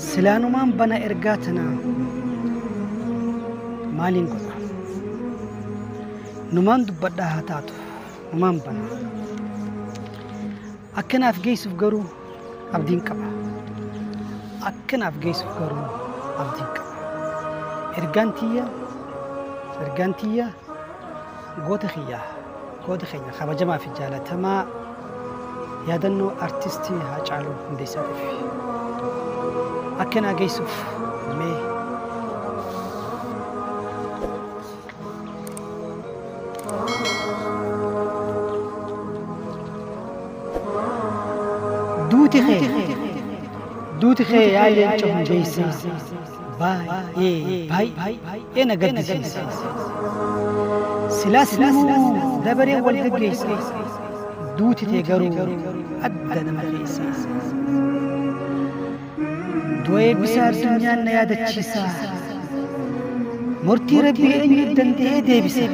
silaanumaan bana ergaa tana maaliin godha numaan dubbadhaa haa taatu numaan bana akka naaf geessuuf garuu Abdiin qaba. Akka naaf geessuuf garuu abdiin qaba. Ergaan tiyya ergaan tiyya goota kiyya goota keenya kabajamaa fi jaalatamaa yaadannoo artistii Haacaaluu Hundeessaatiif akka naa geessuuf mee Duuti kee duuti kee yaa leenca hundeessaa baay'ee baay'ee na gaddisiisa. Silaas namuu dabareen wal gaggeessa duuti tee garuu adda nama keessa. Du'a eebbisaa addunyaan na yaadachiisa. Murtii Rabbii eenyu danda'ee deebisa.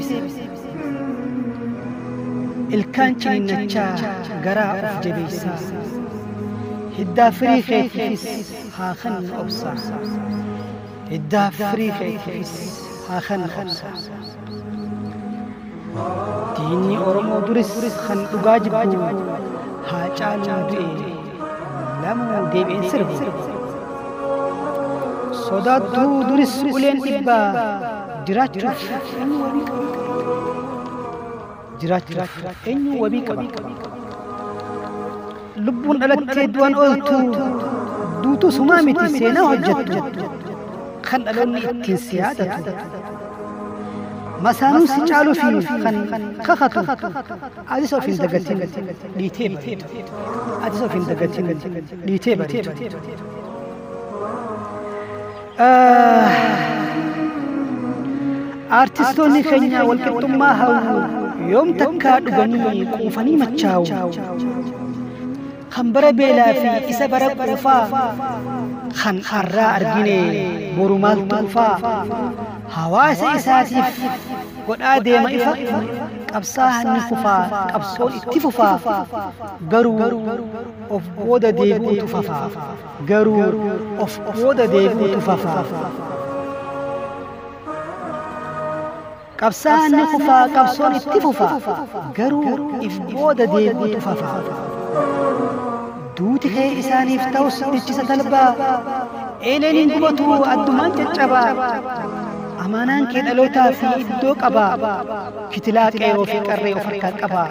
Ilkaan ciniinnachaa garaa of jabeessa. Hiddaa firii keetiifis haa kennu obsa. Hiddaa firii keetiifis haa kennu obsa. Diinni Oromoo duris kan dhugaa jibbu haa caaluun du'e lamuu deebi'een sirbu. Sodaattuu duris uleen dhibbaa jiraachuuf hin mormu. jiraachuuf eenyu wabii qaba? Lubbuun dhalattee du'an ooltu duutuu sumaa miti seenaa hojjettu kan dhaloonni ittiin si yaadatu. Masaanuun si caaluu fi kan kakatu atis of hin dagatin dhiitee bareedu. Atis of hin dagatin dhiitee bareedu. Aartistoonni keenya walqixxummaa hawwu yoom takkaa dhuganii quufanii machaa'u. Kan bara beelaa fi isa bara quufaa kan har'aa argine boru maaltu dhufaa? Hawaasa isaatiif godhaa deema ifa qabsaa'aan ni kufaa qabsoon itti fufaa garuu of booda deebi'uutu fafaa. Garuu of booda deebi'utu fafa. Qabsaa'aan ni kufaa qabsoon itti fufa. Garuu if booda deebi'utu fafa. Duuti kee isaaniif ta'us dhichisa talbaa. Eeleen hin gubatu addumaan caccabaa. Amaanaan kee dhalootaa fi iddoo qabaa. Kitilaa qeeroo fi qarree of harkaa qabaa.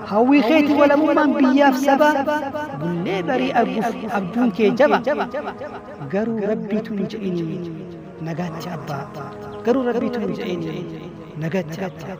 Hawwii keeti walabummaan biyyaaf sabaa bullee barii arguuf abjuun kee jaba garuu rabbiitu hin jedhini nagaatti abbaa garuu rabbiitu hin jedhini nagaatti abbaa.